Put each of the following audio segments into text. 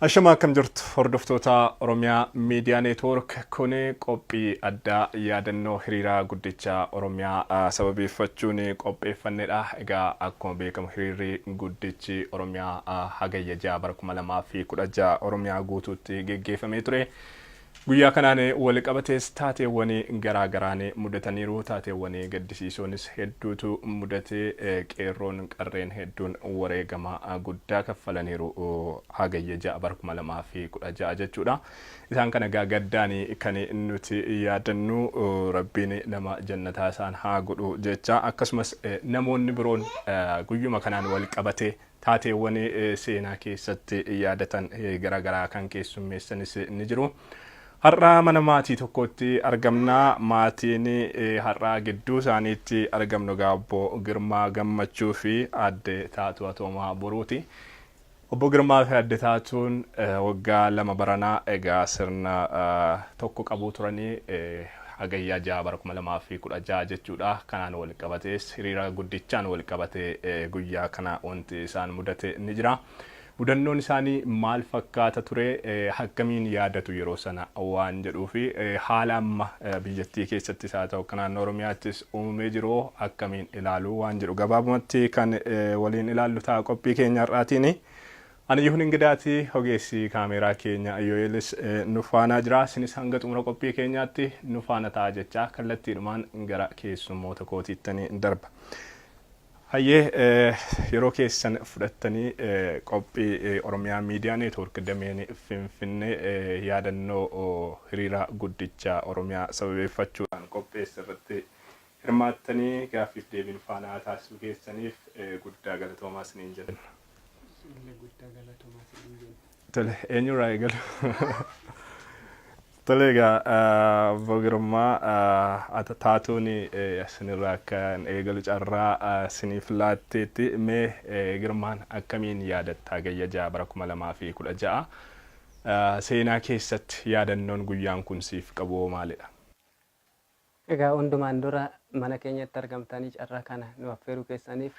Ashamaa akkam jirtu hordoftoota Oromiyaa Miidiyaa Neetwoork kun qophii addaa yaadannoo hiriira guddicha Oromiyaa ah, sababeeffachuun qopheeffannedha. Egaa akkuma beekamu hiriirri guddichi Oromiyaa ah, hagayya ja'a bara kuma lamaa fi kudha ja'a Oromiyaa guutuutti geggeeffamee ture. Guyyaa kanaan waliqabatees taateewwan garaa garaan mudataniiru. Taateewwan gaddisiisoonis hedduutu mudate. Qeerroon qarreen hedduun wareegama guddaa kaffalaniiru. Hagayya 6 bara 2016 jechuudha. Isaan kana egaa gaddaan kan nuti yaadannu Rabbiin nama jannataa isaan haa godhu jecha akkasumas namoonni biroon guyyuma kanaan walqabatee Taateewwan seenaa keessatti yaadatan gara garaa kan keessummeessanis ni jiru. Har'a mana maatii tokkootti argamna. Maatiin har'a gidduu isaaniitti argamnu egaa obbo Girmaa Gammachuu fi aadde Taatuu Atoomaa Boruuti. Obbo Girmaa fi aadde Taatuun waggaa lama baranaa egaa sirna tokko qabuu turanii Hagayya 6 bara 2016 jechuudha. Kanaan walqabatees hiriira guddichaan walqabatee guyyaa kana wanti isaan mudate ni jira. Mudannoon isaanii maal fakkaata ture? Akkamiin yaadatu yeroo sana waan jedhuu fi haala amma biyyattii keessattis haa ta'u akka naannoo Oromiyaattis uumamee jiru akkamiin ilaalu waan jedhu gabaabumatti kan waliin ilaallu ta'a qophii keenya har'aatiin. Ani Yihun Ingidaati, ogeessi kaameeraa keenya Yoo'eelis nu faanaa jira. Sinis hanga xumura qophii keenyaatti nu faana ta'aa jechaa kallattiidhumaan gara keessummoota kootiittan darba. Hayyee yeroo keessan fudhattanii qophii Oromiyaa Miidiyaa Neetwoork Dameen Finfinnee yaadannoo hiriira guddicha Oromiyaa sababeeffachuudhaan qopheesse irratti Hirmaattanii gaaffiif deebii nu faana taasisuu keessaniif guddaa galatoomaa isiniin jenna. Isinillee guddaa galatoomaa isiniin jenna. Tole, eenyurraa eegalu? Tole egaa obbo Girmaa ata taatuun isinirraa akka hin eegalu carraa isiniif laatteetti. Mee Girmaan akkamiin yaadatta Hagayya 6 bara 2016 seenaa keessatti yaadannoon guyyaan kun siif qabu hoo maalidha? Egaa hundumaan dura mana keenyatti argamtanii carraa kana nu affeeruu keessaniif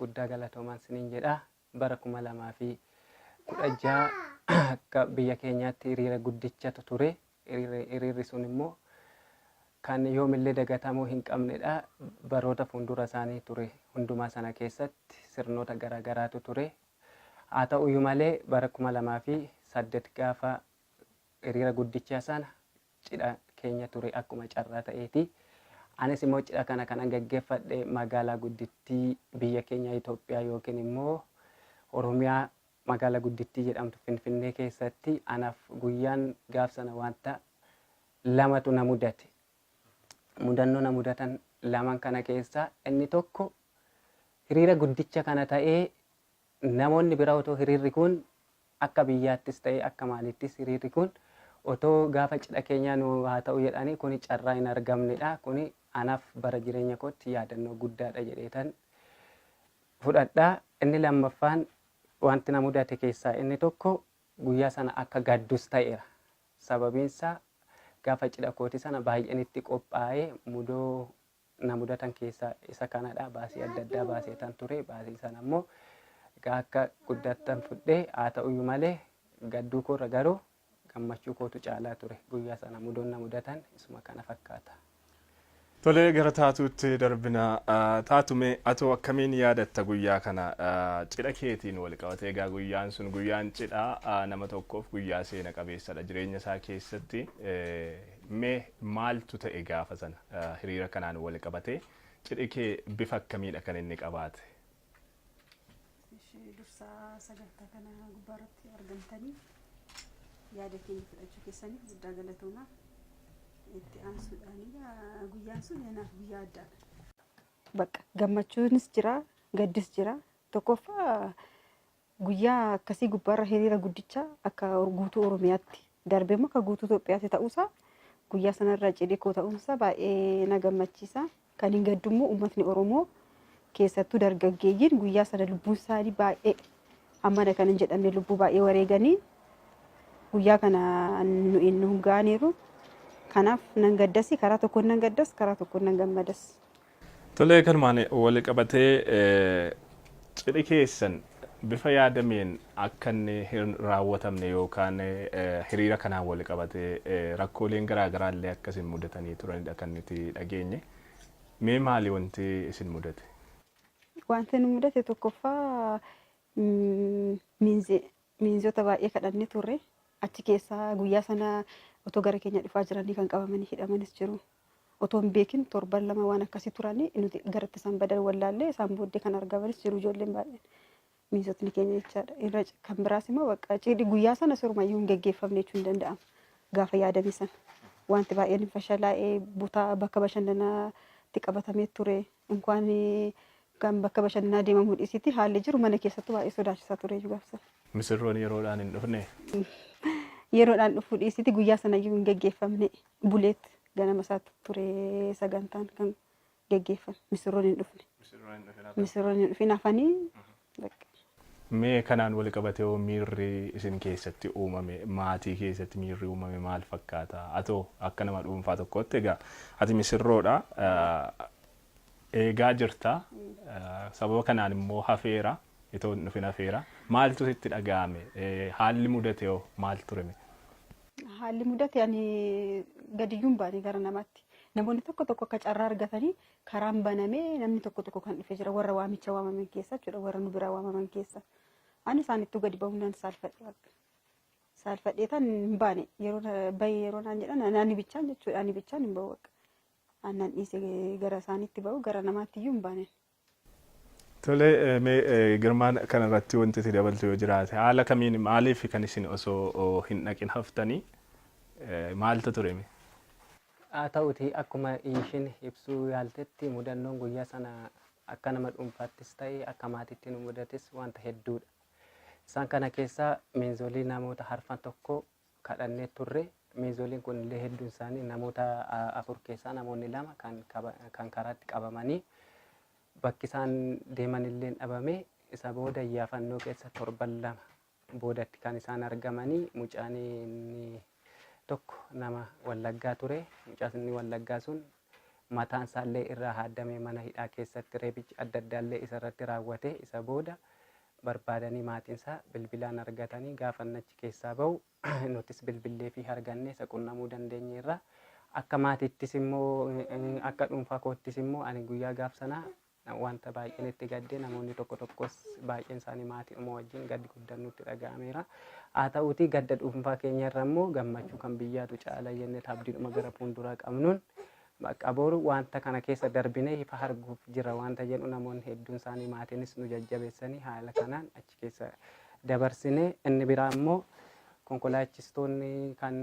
guddaa galatoomaan siniin jedha. Bara 2016 akka biyya keenyaatti hiriira guddichatu ture. Hiriirri hiriirri sun immoo kan yoomillee dagatamuu hin qabnedha. Baroota fuuldura isaanii ture hundumaa sana keessatti sirnoota garaa garaatu ture. Haa ta'uyyuu malee bara 2008 gaafa hiriira guddichaa sana Cidha keenya ture akkuma carraa ta'eeti. Anis immoo cidha kana kanan gaggeeffadhe magaalaa guddittii biyya keenya Itoophiyaa yookiin immoo Oromiyaa magaalaa guddittii jedhamtu Finfinnee keessatti anaaf guyyaan gaaf sana wanta lamatu na mudate. Mudannoo na mudatan laman kana keessaa inni tokko hiriira guddicha kana ta'ee Namoonni bira otoo hiriirri kun akka biyyaattis ta'ee akka maaliittis hiriirri kun otoo gaafa cidha keenyaa nu haa ta'u jedhaanii kuni carraa hin argamnedha. Kuni anaf bara jireenya kootti yaadannoo guddaadha jedheetan fudhadha. Inni lammaffaan wanti na mudate keessaa inni tokko guyyaa sana akka gaddus ta'eera. Sababiinsaa gaafa cidha kooti sana baay'een itti qophaa'ee mudoo na mudatan keessaa isa kanadha. Baasii adda addaa baaseetan ture. Baasii sana immoo egaa akka guddattan fudhee haa ta'uyyuu malee gadduu koorra garuu gammachuu kootu caalaa ture. Guyyaa sana mudoon na mudatan isuma kana fakkaata. Tolee gara taatuutti darbina. Taatume atoo akkamiin yaadatta guyyaa kana cidha keetiin wal qabate egaa guyyaan sun guyyaan cidhaa nama tokkoof guyyaa seena qabeessadha jireenya isaa keessatti. Mee maaltu ta'e gaafa sana? Hiriira kanaan wal qabatee cidhi kee bifa akkamiidha kan inni qabaate? Ishee dursaa sagantaa kana gubbaa irratti argamtanii yaada keenya fudhachuu keessaniif guddaa galatoomaa. Itti aansuudhaan egaa guyyaan sun anaaf guyyaa addaadha. Bakka gammachuunis jira, gaddis jira. Tokkoffaa Guyyaa akkasii gubbaarra hiriira guddicha akka guutuu Oromiyaatti darbee immoo akka guutuu Itoophiyaatti ta'uusaa guyyaa sanarra cidhi koo ta'uunsaa baay'ee na gammachiisa. Kan hin gaddu immoo uummatni Oromoo keessattuu dargaggeeyyiin guyyaa sana lubbuun isaanii baay'ee hammana kan hin jedhamne lubbuu baay'ee wareeganii guyyaa kana nu hin ga'aniiru. Kanaaf nan gaddasi karaa tokkoon nan gaddas karaa tokkoon nan gammadas. Tolee kanumaan waliqabatee cidhi keessan bifa yaadameen akka inni hin raawwatamne yookaan hiriira kanaan waliqabatee rakkooleen garaa garaa illee akka isin mudatanii turanidha kan nuti dhageenye. Mee maali wanti isin mudate? Wanti nu mudate tokkoffaa miinzee Miinzota baay'ee kadhannee turre. Achi keessaa guyyaa sana otoo gara keenya dhufaa jiranii kan qabamanii hidhamanis jiru. Otoo hin beekin torban lama waan akkasii turanii nuti garatti isaan badan wallaallee isaan booddee kan argamanis jiru ijoolleen baay'een. Miinzotni keenya jechaadha. Irra c- kan biraas immoo bakka cidhi guyyaa sana sirumayyuu hin geggeeffamne jechuun ni danda'ama. Gaafa yaadame sana. Wanti baay'een hin fashalaa'ee butaa bakka bashannanaatti qabatamee ture. Inkwaan kan bakka bashannanaa deemamuu dhiisiitii haalli jiru mana keessattuu baay'ee sodaachisaa ture iyyuu gaaf sana. Misirroon yeroodhaan hin dhufnee? Yeroodhaan dhufuu dhiisiitii guyyaa sana iyyuu hin geggeeffamne. Buleet ganama isaatti ture sagantaan kan geggeeffame. Misirroon hin dhufne. Misirroon hin dhufin hafanii Bakka. Mee kanaan walqabatee hoo miirri isin keessatti uumame, maatii keessatti miirri uumame maal fakkaata? Atoo akka nama dhuunfaa tokkootti egaa ati misirroodha, eegaa jirta, sababa kanaan immoo hafeera, itoo hin dhufin hafeera. Maaltu sitti dhaga'ame? Haalli mudate hoo maal ture mee? Haalli mudate ani gadiyyuu hin baane gara namaatti. Namoonni tokko tokko akka carraa argatanii Karaan banamee namni tokko tokko kan dhufe jira warra waamicha waamaman keessa jechuudha warra nu biraa waamaman keessa. Ani isaanittuu gadi ba'uun nan saalfadhe bakka. Saalfadhee tan hin baane yeroo na- bahee yeroo naan jedhan ani- ani bichaan jechuudha ani bichaan hin ba'u bakka. Aannan dhiise gara isaaniitti ba'u gara namaatti iyyuu hin baane. Tole eh, mee eh, Girmaan kanarratti wanti itti dabaltu yoo jiraate haala kamiin maaliif kan isin osoo oh, hin dhaqin haftanii eh, maaltu ture mee? Haa ta'uutii akkuma Iishiin ibsuu yaaltetti mudannoon guyyaa sana akka nama dhuunfaattis ta'e akka maatiitti nu mudates wanta hedduudha. Isaan kana keessaa miinzolii namoota harfan tokko kadhannee turre. Miinzoliin kunillee hedduun isaanii namoota afur keessaa namoonni lama kan kan karaatti qabamanii bakki isaan deemanillee dhabame. Isa booda iyyaafannoo keessa torban lama Boodatti kan isaan argamanii mucaan inni tokko nama Wallaggaa ture. Mucaan inni Wallaggaa sun mataan isaa illee irraa haaddamee mana hidhaa keessatti reebichi adda addaa illee isa irratti raawwatee isa booda barbaadanii maatiin isaa bilbilaan argatanii gaafa inni achi keessaa bahu nutis bilbilleefii argannee isa qunnamuu dandeenyeerra. Akka maatiittis immoo akka dhuunfaa koottis immoo ani guyyaa gaaf sanaa Wanta baay'een itti gadde, namoonni tokko tokkos baay'een isaanii maatiidhuma wajjin gaddi guddaan nutti dhaga'ameera. Haa ta'uutii gadda dhuunfaa keenya irra immoo gammachuu kan biyyaatu caala jennee abdiidhuma gara fuulduraa qabnuun bakka boru wanta kana keessa darbinee ifa arguuf jira wanta jedhu namoonni hedduun isaanii maatiinis nu jajjabeessanii haala kanaan achi keessa dabarsine inni biraa immoo konkolaachistoonni kan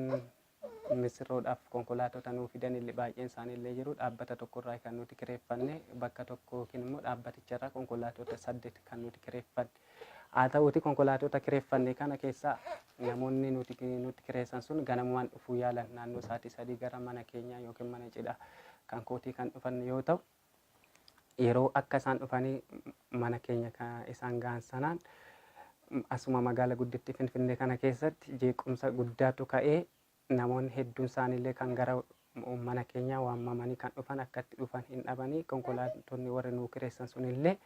Missirroodhaaf konkolaatota nuu fidan illee baay'een isaanii illee jiru. Dhaabbata tokko irraa kan nuti kireeffanne bakka tokko yookiin immoo dhaabbaticha irraa konkolaatota saddeet kan nuti kireeffanne. Haa ta'uuti konkolaatota kireeffanne kana keessaa namoonni nuti nutti kireessan sun ganamumaan dhufuu yaalan naannoo sa'aatii sadii gara mana keenyaa yookiin mana cidhaa kan kootii kan dhufan yoo ta'u yeroo akka isaan dhufanii mana keenya ka isaan ga'an sanaan m- asuma magaala guddittii Finfinnee kana keessatti jeequmsa guddaatu ka'ee namoonni hedduun isaaniillee kan gara m- mana keenyaa waamamanii kan dhufan akka itti dhufan hin dhabanii konkolaattonni warri nuu kireessan sunillee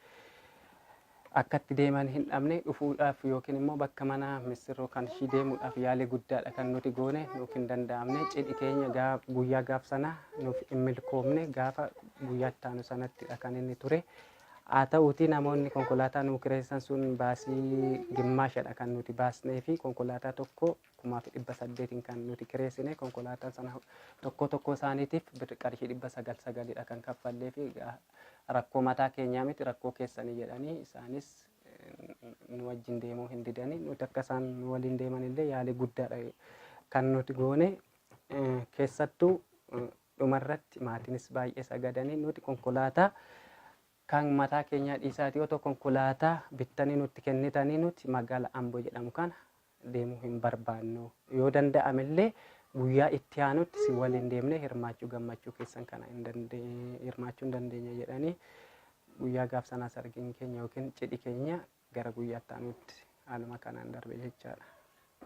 Akka itti deeman hin dhabne, dhufuudhaaf yookiin immoo bakka mana missirroo kan ishii deemuudhaaf yaalii guddaadha kan nuti goone, nuuf hin danda'amne. Cidhi keenya gaaf, guyyaa gaaf sanaa nuuf hin milkoomne, gaafa guyyaa itti aanu sanattidha kan inni ture. Haa ta'uutii namoonni konkolaataa nuu kireessan sun baasii gimmaashadha kan nuti baasnee fi konkolaataa tokko kumaa fi dhibba saddeetiin kan nuti kireessine konkolaataan sana tokkoo tokkoo isaaniitiif birri qarshii dhibba sagal sagalidha kan kaffallee fi egaa rakkoo mataa keenyaa miti rakkoo keessanii jedhanii isaanis eh, nu wajjin deemuu hin didanii nuti akka isaan nu waliin deeman illee yaalii guddaadha kan nuti goone eh, keessattuu eh, dhumarratti maatiinis baay'ee sagadanii nuti konkolaataa Kan mataa keenyaa dhiisaatii otoo konkolaataa bittanii nutti kennitanii nuti magaala Ambo jedhamu kana deemuu hin barbaannu. Yoo danda'ame illee guyyaa itti aanutti si waliin deemnee hirmaachuu gammachuu keessan kana hin dandeenye hirmaachuu hin dandeenye jedhanii guyyaa gaaf sanaas argin keenya yookiin cidhi keenya gara guyyaa itti aanutti haaluma kanaan darbe jechaadha.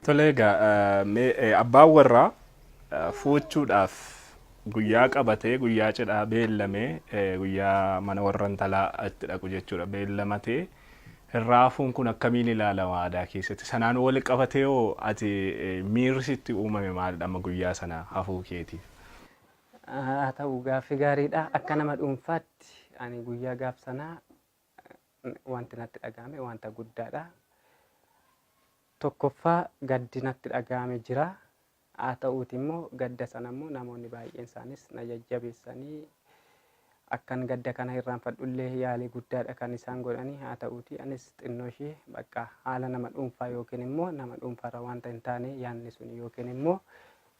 Tole egaa mee abbaan warraa fuuchuudhaaf guyyaa qabatee guyyaa cidhaa beellamee guyyaa mana warra intalaa itti dhaqu jechuudha beellamatee raafuun kun akkamiin ilaalama aadaa keessatti sanaan wal qabatee hoo ati miirri sitti uumame maalidha amma guyyaa sana hafuu keetiif? Haa ta'u gaaffii gaariidha akka nama dhuunfaatti ani guyyaa gaaf sanaa wanti natti dhaga'ame wanta guddaadha. Tokkoffaa gaddi natti dhaga'ame jira. Haa ta'uuti immoo gadda sana immoo namoonni baay'een isaanis na jajjabeessanii akkan gadda kana irraanfadhullee yaalii guddaadha kan isaan godhanii haa ta'uuti anis xinnoo ishee bakka haala nama dhuunfaa yookiin immoo nama dhuunfaarra wanta hin taane yaanni sun yookiin immoo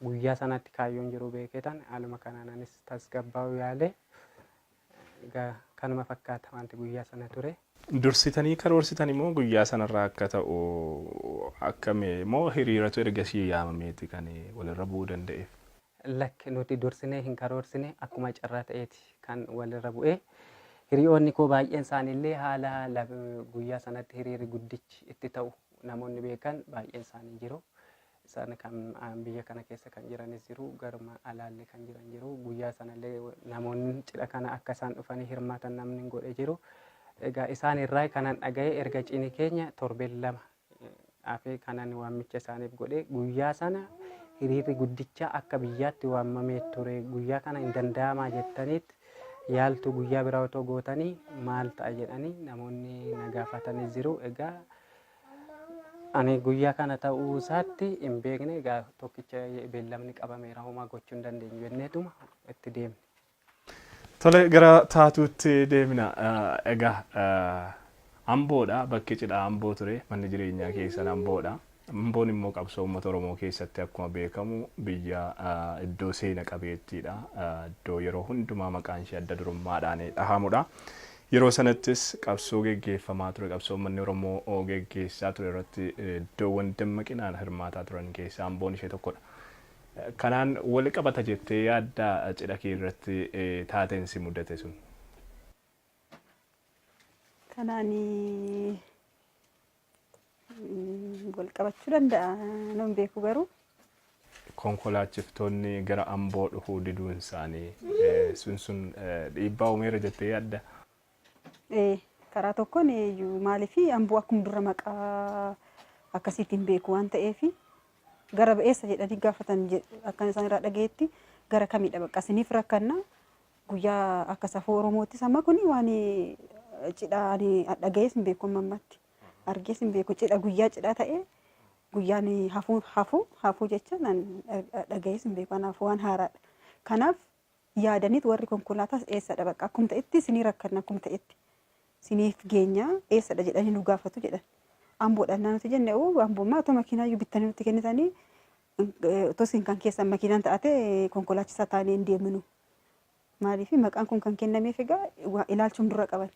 guyyaa sanatti kaayyoon jiru beekeetan haaluma kanaan anis tasgabbaa'uu yaale Egaa kanuma fakkaata wanti guyyaa sana ture. Dursitanii karoorsitani moo guyyaa sanarraa akka ta'u akkami? Moo hiriiratu ergasii yaamameeti kan walirra bu'uu danda'eef? Lakki nuti dursinee hin karoorsine akkuma carraa ta'eeti kan walirra bu'e. Hiriyoonni koo baay'een isaaniillee haala guyyaa sanatti hiriirri guddichi itti ta'u namoonni beekan baay'een isaanii jiru. Isaan kan biyya kana keessa kan jiranis jiru, garuma alaallee kan jiran jiru. Guyyaa sanallee namoonni cidha kana akka isaan dhufanii hirmaatan namni hin godhe jiru. Egaa isaan irraa kanan dhaga'e erga cini keenya torbeen lama hafee kanan waamicha isaaniif godhe guyyaa sana hiriirri guddichaa akka biyyaatti waamamee ture guyyaa kana hin danda'amaa jettaniit yaaltu guyyaa biraa otoo gootanii maal ta'a jedhanii namoonni na gaafatanis jiru. Egaa Ani guyyaa kana ta'uu isaatti hin beekne egaa tokkicha beellamni qabameera homaa gochuu hin dandeenyu jenneetuma itti deemne. Tole gara taatuutti deemna. Egaa Amboodha bakki cidhaa Amboo ture manni jireenyaa keessan Amboodha. Amboon immoo qabsoo uummata Oromoo keessatti akkuma beekamu biyya iddoo seena qabeettiidha. Iddoo yeroo hundumaa maqaan ishee adda durummaadhaan dhahamudha. Yeroo sanattis qabsoo geggeeffamaa ture, qabsoo ummanni Oromoo geggeessaa ture irratti iddoowwan dammaqinaan hirmaataa turan keessaa Amboon ishee tokkodha. Kanaan wal qabata jettee yaaddaa cidha kee irratti taateen si mudate sun? Kanaan wal qabachuu danda'a nan beeku garuu. Konkolaachiftoonni gara Amboo dhufuu diduun isaanii sun sun dhiibbaa uumeera jettee yaadda? Ee karaa tokkoon iyyuu maaliif Amboo akkuma dura maqaa akkasiitti hin beeku waan ta'eef gara eessa jedhanii gaafatan akkan isaan irraa dhagayetti gara kamidha bakka isiniif rakkanna Guyyaa akka safuu Oromoottis amma kun waan cidhaa ani dhagayees hin beeku amma ammatti argees hin beeku cidha guyyaa cidhaa ta'ee guyyaan hafuu hafuu hafuu jecha nan dhagayees hin beeku kanaaf waan haaraadha. Kanaaf yaadaniit warri konkolaataas eessadha bakka akkum ta'etti sinii rakkanna akkum ta'etti siniif geenyaa eessadha jedhanii nu gaafatu jedhan. Amboodhaan nuti jenne oo amboommaa otoo makiinaayyuu bittanii nutti kennitanii otoo isin kan keessan makiinaan ta'ate konkolaachisaa taanee hin deemnu Maaliif maqaan kun kan kennameef egaa waa ilaalchuun dura qaban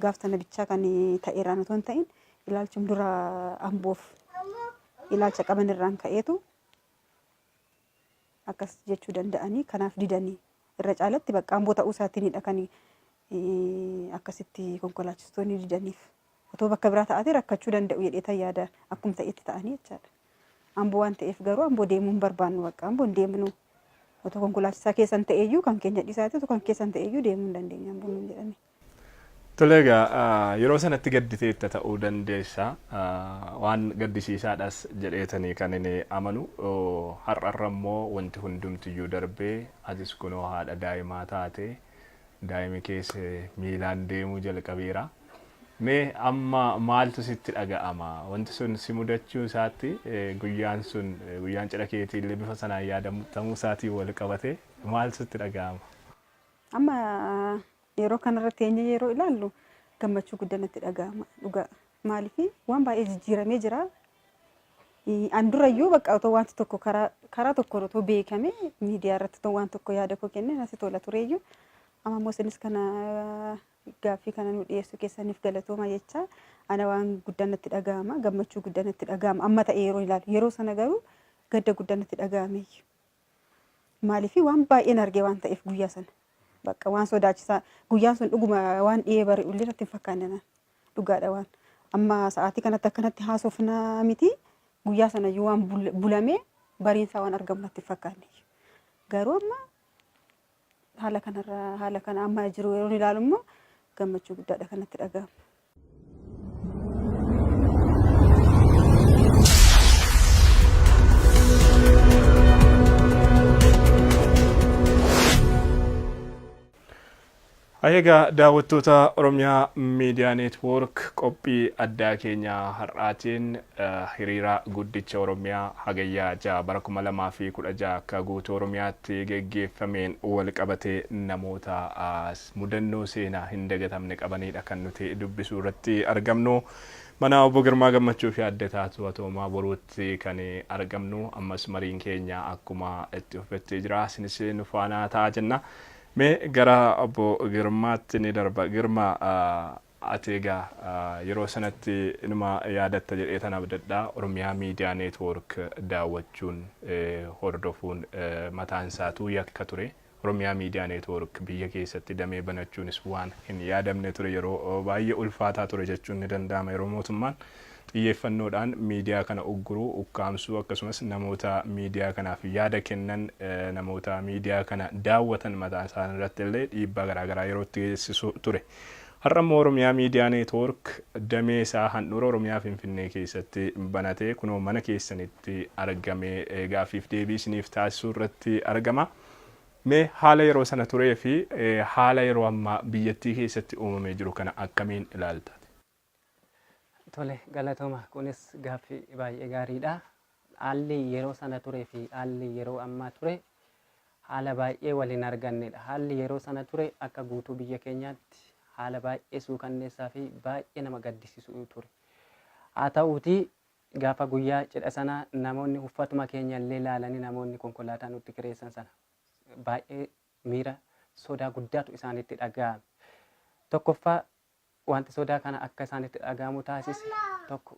gaaf sana bichaa kan ta'eerraan otoo hin ta'in ilaalchuun dura amboof ilaalcha qaban irraan ka'eetu akkas jechuu danda'anii kanaaf didanii irra caalatti bakka amboo ta'uu isaatiinidha kan eh, akkasitti konkolaachistoonni didaniif. Otoo bakka biraa ta'aatee rakkachuu danda'u jedheetan yaada akkum ta'etti ta'anii jechaadha. Amboo waan ta'eef garuu amboo deemuu hin barbaannu bakka amboo hin deemnu. Otoo konkolaachisaa keessan ta'eeyyuu kan keenya dhisaati otoo kan keessan ta'eeyyuu deemuu hin dandeenye amboo nuun jedhani. Tole egaa yeroo sanatti gadditeetta ta'uu dandeessa. Waan gaddisiisaadhas jedheetanii kan inni amanu. Har'arra immoo wanti hundumtiyyuu darbee atis kunoo haadha daa'imaa taate. Daa'imi kees miilaan deemuu jalqabeera. Mee amma maaltu sitti dhaga'ama? Wanti sun si mudachuu isaatti guyyaan sun guyyaan cidha keetii illee bifa sanaan yaadatamuu isaatiin wal qabatee maal sitti dhaga'ama? Amma yeroo kanarra teenyee yeroo ilaallu gammachuu guddaa natti dhaga'ama dhugaa. Maaliif waan baay'ee jijjiiramee jira. An durayyuu bakka otoo wanti tokko karaa karaa tokkoon otoo beekame miidiyaa irratti otoo waan tokko yaada koo kenne natti tola tureyyuu. Amma immoo isinis kana Gaaffii kana nu dhiyeessuu keessaniif galatooma jechaa ana waan guddaa natti dhaga'ama gammachuu guddaa natti dhaga'ama amma ta'e yeroo ilaalu yeroo sana garuu gadda guddaa natti dhaga'ame maaliif waan baay'een argee waan ta'eef guyyaa sana bakka waan sodaachisaa guyyaan sun dhuguma waan dhiyee bari'u illee natti hin fakkaanne naan dhugaadha waan amma sa'aatii kanatti akkanatti haasofnaa miti guyyaa sana iyyuu waan bul- bulamee bariinsaa waan argamu natti hin fakkaanne garuu amma Haala kanarra haala kana amma jiru yeroo ilaalu immoo gammachuu guddaadha kanatti dhaga'ama. Haye egaa daawwattoota Oromia Media Network qophii addaa keenya har'aatiin hiriira guddicha Oromia Hagayya 6 bara 2016 akka guutuu Oromiyaatti geggeeffameen walqabatee namoota mudannoo seenaa hin dagatamne qabaniidha kan nuti dubbisuu irratti argamnu. Mana Obbo Girmaa Gammachuu fi Adde Taatuu Atoomaa Boruutti kan argamnu ammas mariin keenya akkuma itti fufetti jira. Isinis nu faana ta'a jenna. Mee gara obbo Girmaatti ni darba. Girma, ati egaa yeroo sanatti inuma yaadatta jedheetan abdadha. Oromiyaa Miidiyaa Neetwoork daawwachuun, hordofuun mataan isaatuu yakka ture. Oromiyaa Miidiyaa Neetwoork biyya keessatti damee banachuunis waan hin yaadamne ture. Yeroo baay'ee ulfaataa ture jechuun ni danda'ama yeroo mootummaan xiyyeeffannoodhaan miidiyaa kana ugguruu, ukkaamsuu akkasumas namoota miidiyaa kanaaf yaada kennan, namoota miidiyaa kana daawwatan mataa isaanii irratti illee dhiibbaa garaa garaa yeroo itti geessisu ture. Har'a immoo Oromiyaa Miidiyaa Neetwoork damee isaa handhuura Oromiyaa Finfinnee keessatti banatee kunoo mana keessanitti argamee gaaffiif deebii isiniif taasisuu irratti argama. Mee haala yeroo sana turee fi haala yeroo ammaa biyyattii keessatti uumamee jiru kana akkamiin ilaalta? Tole galatooma kunis gaaffii baay'ee gaariidha. Haalli yeroo sana ture fi haalli yeroo ammaa ture haala baay'ee wal hin argannedha. Haalli yeroo sana ture akka guutuu biyya keenyaatti haala baay'ee suukanneessaa fi baay'ee nama gaddisiisu ture. Haa ta'uutii gaafa guyyaa cidha sana namoonni uffatuma keenya illee ilaalanii namoonni konkolaataa nutti kireessan sana baay'ee miira sodaa guddaatu isaanitti dhaga'ame. Tokkoffaa Wanti sodaa kana akka isaanitti dhaga'amu taasise tokko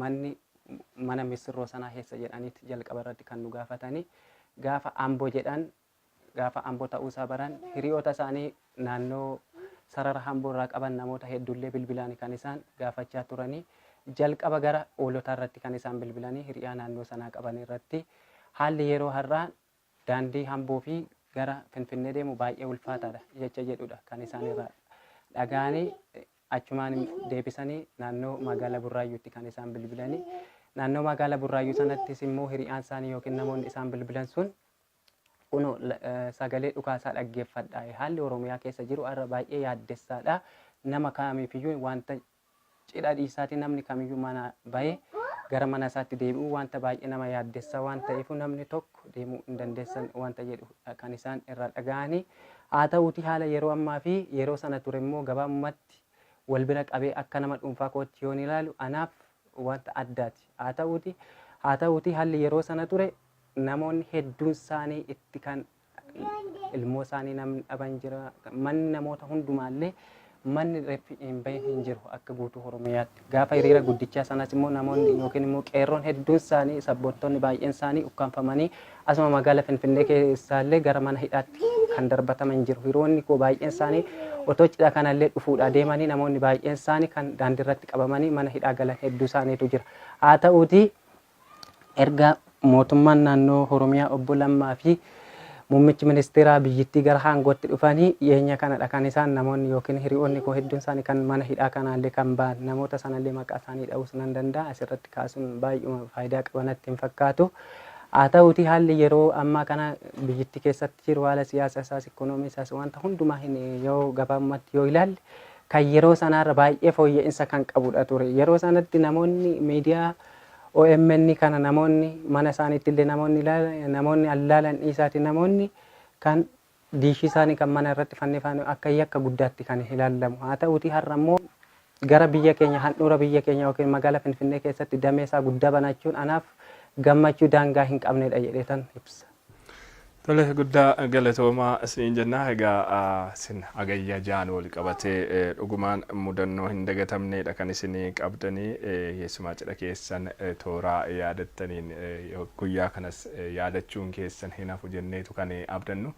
manni mana missirroo sanaa eessa jedhaniiti jalqaba irratti kan nu gaafatanii gaafa ambo jedhan gaafa ambo ta'uu isaa baran hiriyoota isaanii naannoo sarara hamboo irraa qaban namoota hedduullee bilbilaan kan isaan gaafachaa turanii jalqaba gara oolotaa irratti kan isaan bilbilanii hiriyaa naannoo sanaa qaban irratti haalli yeroo har'aa Daandii Amboo fi gara Finfinnee deemu baay'ee ulfaataadha jecha jedhudha kan isaan irraa dhagahanii achumaan deebisanii naannoo magaala Burraayyuutti kan isaan bilbilanii naannoo magaala Burraayyuu sanattis immoo hiriyaan isaanii yookiin namoonni isaan bilbilan sun kunoo sagalee dhukaasaa dhaggeeffadha haalli Oromiyaa keessa jiru har'a baay'ee yaaddessaadha nama kaamiifiyyuu wanta Cidha dhiisaati namni kamiyyuu manaa bahee gara mana isaatti deebi'uu wanta baay'ee nama yaaddessa waan ta'eefuu namni tokko deemuu hin dandeessan wanta jedhudha kan isaan irraa dhaga'ani. Haa ta'uutii haala yeroo ammaa fi yeroo sana ture immoo gabaabumatti wal bira qabee akka nama dhuunfaa kootti yoon ilaalu anaaf wanta addaati. Haa ta'uutii haa ta'uutii halli yeroo sana ture namoonni hedduun isaanii itti kan ilmoo isaanii namni dhaban jira. Manni namoota hundumaallee manni reeffi hin bahin hin jiru akka guutuu Oromiyaatti. Gaafa hiriira guddichaa sanas immoo namoonni yookiin immoo qeerroon hedduun isaanii sabboontoonni baay'een isaanii ukkaamfamanii asuma magaala Finfinnee keessaallee gara mana hidhaatti kan darbataman jiru. Hiroonni koo baay'een isaanii otoo cidha kanallee dhufuudhaa deemanii namoonni baay'een isaanii kan daandirratti qabamanii mana hidhaa galan hedduu isaaniitu jira. Haa ta'uutii Erga mootummaan naannoo Horomiyaa Obbo Lammaa fi Muummichi Ministeeraa biyyittii gara aangootti dhufanii dhiyeenya kanadha kan isaan namoonni ykn hiriyoonni koo hedduun isaanii kan mana hidhaa kanaallee kan ba'an. Namoota sanallee maqaa isaanii dha'uus nan danda'a. Asirratti kaasuun baay'uma faayidaa qaba natti hin fakkaatu. Haa ta'uutii haalli yeroo ammaa kana biyyittii keessatti jiru haala siyaasa isaas, ikoonoomii isaas wanta hundumaa hin yoo gabaabumatti yoo ilaalle kan yeroo sanaarra baay'ee fooyya'insa kan qabudha ture. Yeroo sanatti namoonni miidiyaa Omn kana namoonni mana isaaniitti illee namoonni ilaalan namoonni an ilaalan dhiisaati namoonni kan diishii isaanii kan mana irratti fannifaan akka yakka guddaatti kan ilaalamu haa ta'uutii har'a immoo gara biyya keenya handhuura biyya keenya yookiin magaala finfinnee keessatti damee isaa guddaa banachuun anaaf gammachuu daangaa hin qabnedha jedheetan ibsa. Tole guddaa galatoomaa isiniin jenna. Egaa isin hagayya ja'an wal qabatee dhugumaan mudannoo hin dagatamneedha kan isin qabdanii keessumaa cidha keessan tooraa yaadattaniin guyyaa kanas yaadachuun keessan hin hafu jenneetu kan abdannu.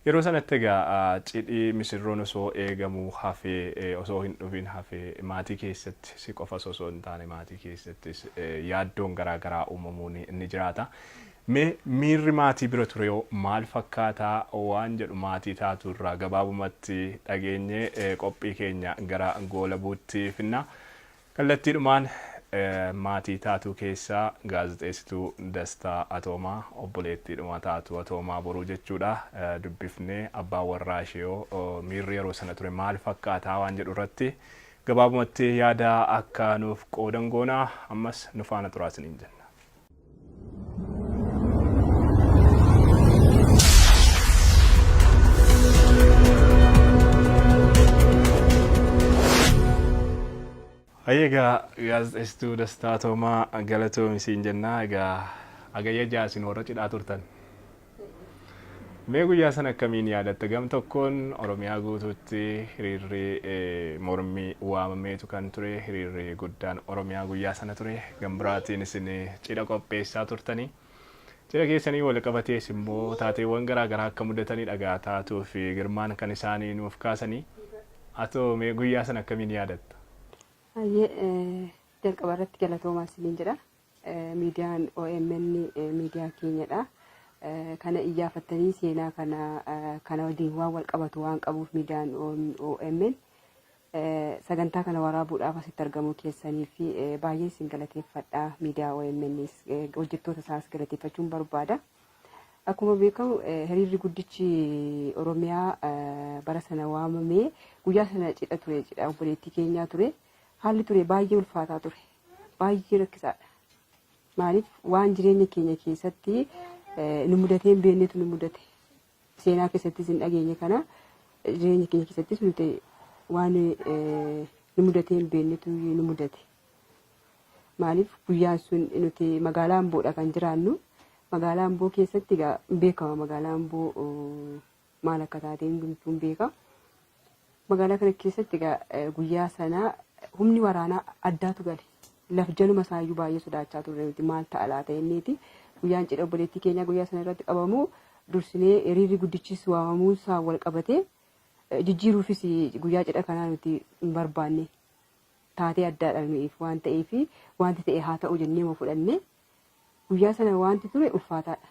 Yeroo sanatti egaa cidhi misirroon osoo eegamuu hafee osoo hin dhufin hafee maatii keessatti si qofas osoo hin taane maatii keessattis yaaddoon garaa garaa uumamuun ni jiraata. Mee miirri maatii bira turehoo maal fakkaata waan jedhu maatii taatu irraa gabaabumatti dhageenyee qophii keenya gara goolabuutti finna. Kallattiidhumaan maatii Taatuu keessaa gaazexeessituu Dastaa Atoomaa, obboleettiidhuma Taatuu Atoomaa Boruu jechuudha, dubbifnee abbaan warraa isheehoo miirri yeroo sana ture maal fakkaataa waan jedhu irratti gabaabumatti yaada akka nuuf qoodan goona. Ammas nu faana turaa isiniin jenna. Hayyee egaa gaazexeessituu Dastaa Toomaa galatoomi siin jennaa egaa agayya ja'a isin warra cidhaa turtan. Mee guyyaa sana akkamiin yaadatta? Gam tokkoon Oromiyaa guutuutti hiriirri mormii waamameetu kan ture. Hiriirri guddaan Oromiyaa guyyaa sana ture. Gam biraatiin isin cidha qopheessaa turtanii. Cidha keessanii wal qabatees immoo taateewwan garaa garaa akka mudatanii dhagaa taatuu fi girmaan kan isaanii nuuf kaasanii. Atoo mee guyyaa sana akkamiin yaadatta? Baay'ee jalqaba irratti galatoomaa isiniin jedha. Miidiyaan omn miidiyaa keenyadha. Kana iyyaafattanii seenaa kana kana waliin waan wal qabatu waan qabuuf miidiyaan omn sagantaa kana waraabuudhaaf asitti argamuu keessanii fi baay'een isin galateeffadha. Miidiyaa omn hojjettoota isaas galateeffachuun barbaada. Akkuma beekamu hiriirri guddichi Oromiyaa bara sana waamamee guyyaa sana cidha ture cidha obboleettii keenyaa ture haalli ture baay'ee ulfaataa ture. Baay'ee rakkisaadha. Maaliif waan jireenya keenya keessatti nu mudatee hin beeknetu nu mudate. Seenaa keessattis hin dhageenye kana jireenya keenya keessattis nuti waan nu mudatee hin beeknetu nu mudate. Maaliif guyyaan sun nuti magaalaa Amboodha kan jiraannu. Magaalaa Amboo keessatti egaa hin beekama magaalaa Amboo maal akka taate hundumtuun beeka. Magaalaa kana keessatti egaa eh, guyyaa sana humni waraanaa addaatu gale. Laf jaluma isaayyuu baay'ee sodaachaa turre nuti maal ta'a laata jenneeti. Guyyaan cidha obboleettii keenyaa guyyaa sana irratti qabamu dursinee hiriirri guddichis waamamuun isaa wal qabatee eh, jijjiiruufis guyyaa cidha kanaa nuti hin barbaanne. Taatee addaadha nuyiif waan ta'eef wanti ta'e haa ta'u jennee ma fudhanne Guyyaa sana waanti ture ulfaataadha.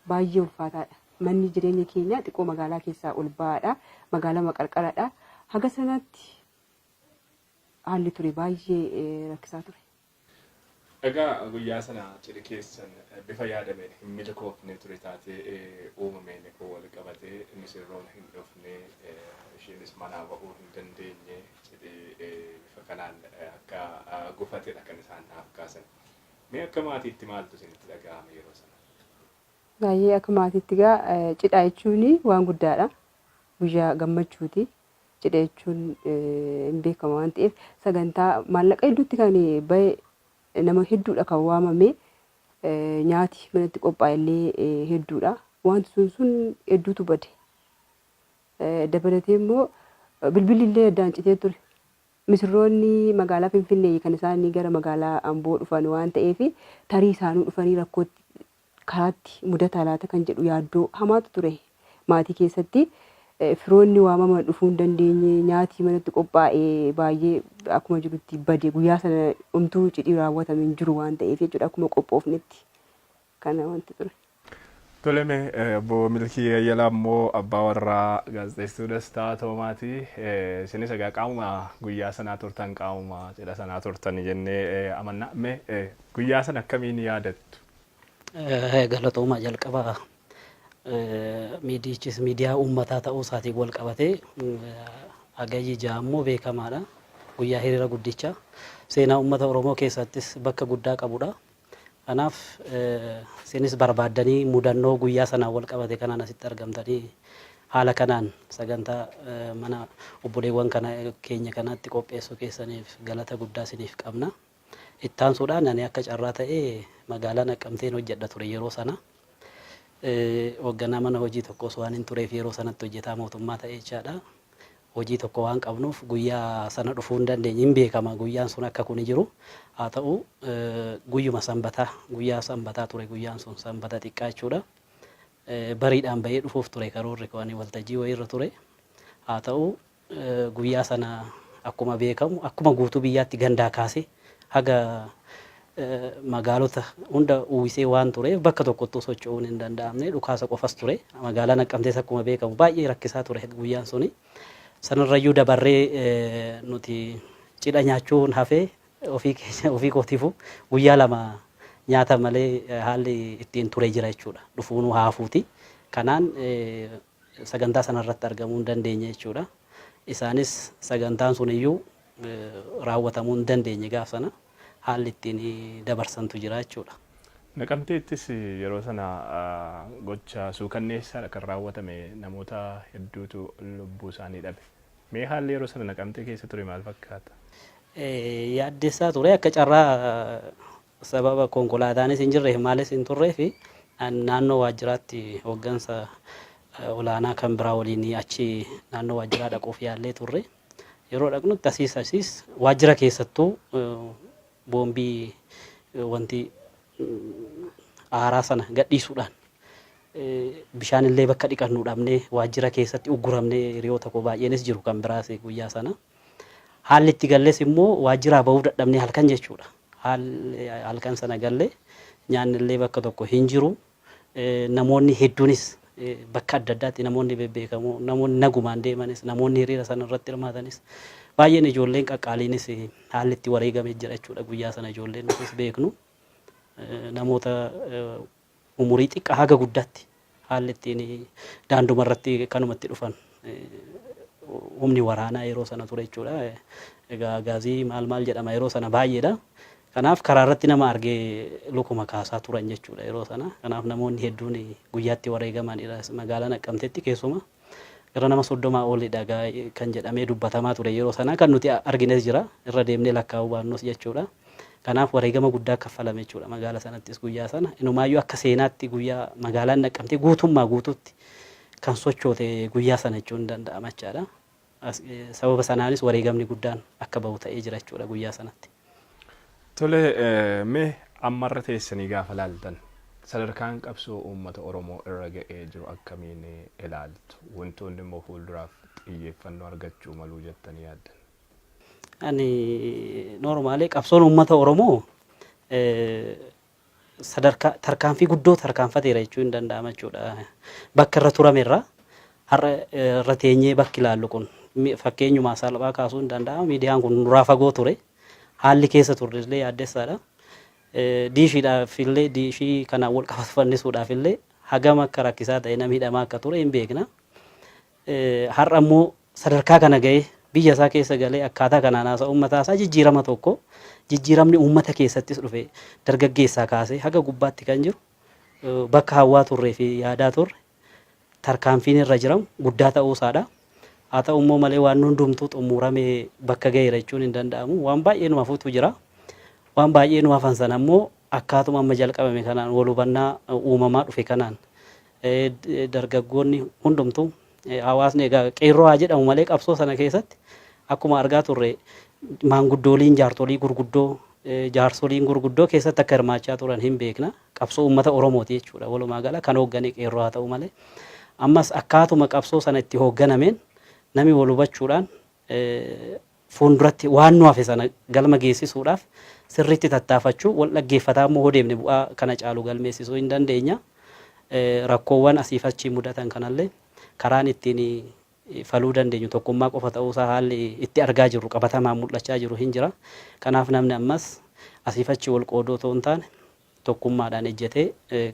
Baay'ee ulfaataadha. Manni jireenya keenyaa xiqqoo magaalaa keessaa ol ba'aadha. Magaalama qarqaradha. Haga sanatti haalli ture baay'ee rakkisaa ture. Egaa guyyaa sana cidhi keessan bifa yaadameen hin milkoofne ture taatee uumameen wal qabatee misirroon hin dhufne isheenis manaa ba'uu hin dandeenye cidhi bifa kanaan akka gufatedha kan isaan naaf kaasan. Mee akka maatiitti maaltu isinitti dhaga'ame yeroo sana? Baay'ee akka maatiitti egaa cidha jechuun waan guddaadha. Guyyaa gammachuuti. Cidha jechuun hin beekama waan ta'eef sagantaa maallaqa hedduutti kan ba'e nama hedduudha kan waamame nyaati manatti qophaa'e illee hedduudha. Wanti sun sun hedduutu bade. Dabalatee immoo bilbilli illee addaan citee ture. Misirroonni magaalaa Finfinnee kan isaan gara magaalaa Amboo dhufan waan ta'eef tarii isaanuu dhufanii rakkootti karaatti mudataa laata kan jedhu yaaddoo hamaatu ture maatii keessatti. Firoonni waamaman dhufuu hin dandeenye, nyaati manatti qophaa'e baay'ee akkuma jirutti bade. Guyyaa sana homtuu cidhi raawwatame hin jiru waan ta'eef jechuudha akkuma qophoofnetti kana wanti ture. Tole mee obbo Milkii Yayyalaa immoo abbaa warraa gaazexeessituu Dastaa Toomaati. Isinis egaa qaamuma guyyaa sanaa turtan qaamuma cidha sanaa turtan jennee amanna. Mee guyyaa sana akkamiin yaadattu? Galatoomaa jalqaba miidiyichis miidiyaa uummataa ta'uu isaatiin wal qabatee Hagayyi ja'a immoo beekamaadha. Guyyaa hiriira guddicha seenaa uummata Oromoo keessattis bakka guddaa qabudha. Kanaaf isinis barbaaddanii mudannoo guyyaa sanaan walqabate kanaan asitti argamtanii haala kanaan sagantaa mana obboleewwan kana keenya kanaatti qopheessuu keessaniif galata guddaa isiniif qabna. Ittaansuudhaan ani akka carraa ta'e magaalaa Naqqamteen hojjedha ture yeroo sana. Hoogganaa mana hojii tokkos waan hin tureef yeroo sanatti hojjetaa mootummaa ta'e jechaadha. hojii tokko waan qabnuuf guyyaa sana dhufuu hin dandeenye hin beekama guyyaan sun akka kuni jiru haa ta'u guyyuma sanbataa guyyaa sanbataa ture guyyaan sun sanbata xiqqaa jechuudha bariidhaan bahee dhufuuf ture karoorri koo ani waltajjii wayiirra ture haa ta'u guyyaa sana akkuma beekamu akkuma guutuu biyyaatti gandaa kaasee Haga magaalota hunda uwwisee waan tureef bakka tokkottuu socho'uun hin danda'amne. Dhukaasa qofas ture. Magaalaa Naqqamtees akkuma beekamu baay'ee rakkisaa ture guyyaan suni. Sanarrayyuu dabarree nuti cidha nyaachuun hafee ofii keenya ofii kootiifuu guyyaa lama nyaata malee haalli ittiin ture jira jechuudha. Dhufuunuu haafuuti. Kanaan sagantaa sana irratti argamuu hin dandeenye jechuudha. Isaanis sagantaan sun iyyuu raawwatamuu hin dandeenye gaaf sana haalli ittiin dabarsantu jira jechuudha. Naqamteettis yeroo sana gocha suukanneessaadha kan raawwatame namoota hedduutu lubbuu isaanii dhabe. Mee haalli yeroo sana Naqamtee keessa ture maal fakkaata? Yaaddessaa ture akka carraa Sababa konkolaataanis hin jirreef maalis hin turreef naannoo waajjiraatti hooggansa olaanaa kan biraa waliin achi naannoo waajjiraa dhaquuf yaallee turre. Yeroo dhaqnutti asiis asiis waajjira keessattuu boombii wanti aaraa sana gadhiisuudhaan bishaan illee bakka dhiqannu dhabnee waajjira keessatti ugguramnee hiriyoota koo baay'eenis jiru kan biraas guyyaa sana. Haalli itti galles immoo waajjiraa bahuu dadhabnee halkan jechuudha. Haalli halkan sana galle nyaanni illee bakka tokko hin jiru. Namoonni hedduunis bakka adda addaatti namoonni bebbeekamoo namoonni nagumaan deemanis namoonni hiriira sana irratti hirmaatanis baay'een ijoolleen qaqqaaliinis haalli itti wareegame jira jechuudha guyyaa sana ijoolleen nutis beeknu. Namoota umurii xiqqaa haga guddaatti haalli ittiin daanduma irratti kanuma itti dhufan humni waraanaa yeroo sana ture jechuudha. Egaa gaazii maal maal jedhama yeroo sana baay'eedha. Kanaaf karaa irratti nama argee lukuma kaasaa turan jechuudha yeroo sana. Kanaaf namoonni hedduun guyyaatti wareegamanidha magaalaa Naqqamteetti keessumaa. Gara nama 30 olidha gaa kan jedhamee dubbatamaa ture yeroo sana kan nuti argines jira irra deemnee lakkaa'uu baannus jechuudha. Kanaaf wareegama guddaa kaffalame jechuudha magaala sanattis guyyaa sana. Inumaayyuu akka seenaatti guyyaa magaalaan naqqamtee guutummaa guutuutti kan sochoote guyyaa sana jechuun danda'ama jechaadha. Sababa sanaanis wareegamni guddaan akka bahu ta'ee jira jechuudha guyyaa sanatti. Tole, mee ammarra teessanii gaafa ilaaltan sadarkaan qabsoo uummata Oromoo irra ga'ee jiru akkamiin ilaaltu? Wantoonni immoo fuulduraaf xiyyeeffannoo argachuu malu jettanii yaaddan? Ani normally qabsoon uummata Oromoo sadarkaa tarkaanfii guddoo tarkaanfateera jechuu hin danda'ama jechuudha. Bakka irra turame irra har'a irra teenyee bakki ilaallu kun fakkeenyumaa salphaa kaasuu hin danda'ama. Miidiyaan kun nuraa fagoo ture. Haalli keessa turre illee yaaddessaadha. Diishiidhaaf illee diishii kanaan wal qabatu fannisuudhaaf illee hagam akka rakkisaa ta'e namni hidhamaa akka ture hin beekna. har'a immoo sadarkaa kana ga'ee biyya isaa keessa galee akkaataa kanaan haasa'uun mataa isaa jijjiirama tokko jijjiiramni uummata keessattis dhufe dargaggeessaa kaasee haga gubbaatti kan jiru bakka hawwaa turree fi yaadaa turre tarkaanfiin irra jiramu guddaa ta'uu isaadha. Haa ta'u immoo malee waan hundumtuu xumuramee bakka ga'eera jechuun hin danda'amu. Waan baay'ee nu hafuutu jira. Waan baay'ee nu hafan sana immoo akkaatuma amma jalqabame kanaan wal hubannaa uumamaa dhufe kanaan dargaggoonni hundumtu hawaasni egaa qeerroo haa jedhamu malee qabsoo sana keessatti akkuma argaa turre maanguddooliin jaartolii gurguddoo jaarsoliin gurguddoo keessatti akka hirmaachaa turan hin beekna qabsoo uummata oromooti jechuudha walumaa gala kan hooggane qeerroo haa ta'u malee ammas akkaatuma qabsoo sana itti hoogganameen nami wal hubachuudhaan fuulduratti waan nu hafe sana galma geessisuudhaaf sirriitti tattaafachuu, wal dhaggeeffataa immoo hoo deemne bu'aa kana caalu galmeessisuu hin dandeenya. Rakkoowwan asiif achi mudatan kanallee karaan ittiin faluu dandeenyu tokkummaa qofa ta'uu isaa haalli itti argaa jirru qabatamaan mul'achaa jiru hin jira. Kanaaf namni ammas asiif achi wal qooduu otoo hin taane tokkummaadhaan ejjatee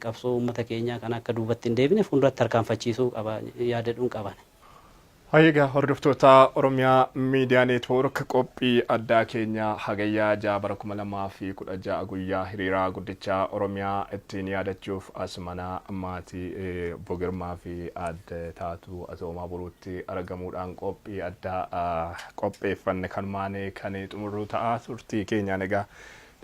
qabsoo uummata keenyaa kana akka duubatti hin deebine fuulduratti tarkaanfachiisuu qaba yaada jedhuun qaba ani. Hayyee egaa hordoftoota Oromiyaa Miidiyaa Neetwoork qophii addaa keenya Hagayyaa 6 bara 2016 guyyaa hiriiraa guddichaa Oromiyaa ittiin yaadachuuf as mana maatii eh, Obbo Girmaa fi Aadde Taatuu Atoomaa Buruutti argamuudhaan qophii addaa ah, qopheeffanne kanumaan kan xumurru ta'a turtii keenyaan egaa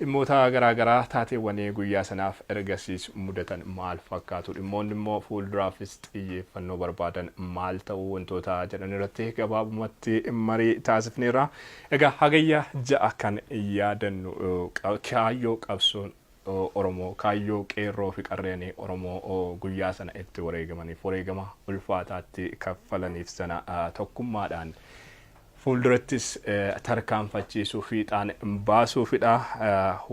Dhimmoota garaa garaa, taateewwan guyyaa sanaaf ergasiis mudatan maal fakkaatu? Dhimmoonni immoo fuulduraafis xiyyeeffannoo barbaadan maal ta'u? Wantoota jedhan irratti gabaabumatti marii taasifneerra. Egaa Hagayya 6 kan yaadannu kaayyoo qabsoon Oromoo, kaayyoo qeerroo fi qarreen Oromoo guyyaa sana itti wareegamaniif, wareegama ulfaataatti kaffalaniif sana tokkummaadhaan Fuuldurattis tarkaanfachiisuu fiixaan baasuufidha.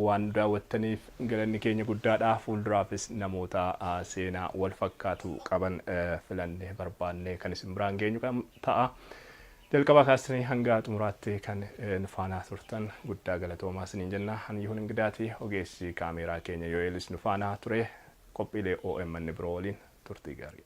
Waan nu daawwattaniif galanni keenya guddaadha. Fuulduraafis namoota seenaa walfakkaatu qaban filannee barbaannee kan isin biraan geenyu ta'a. Jalqabaa kaastanii hanga xumuraatti kan nu faanaa turtan guddaa galatoomaa isiniin jenna. Ani Yihuun Ingidaati. Ogeessi kaameeraa keenya Yo'eelis nu faanaa ture. Qophiilee OMN biroo waliin turtii gaarii.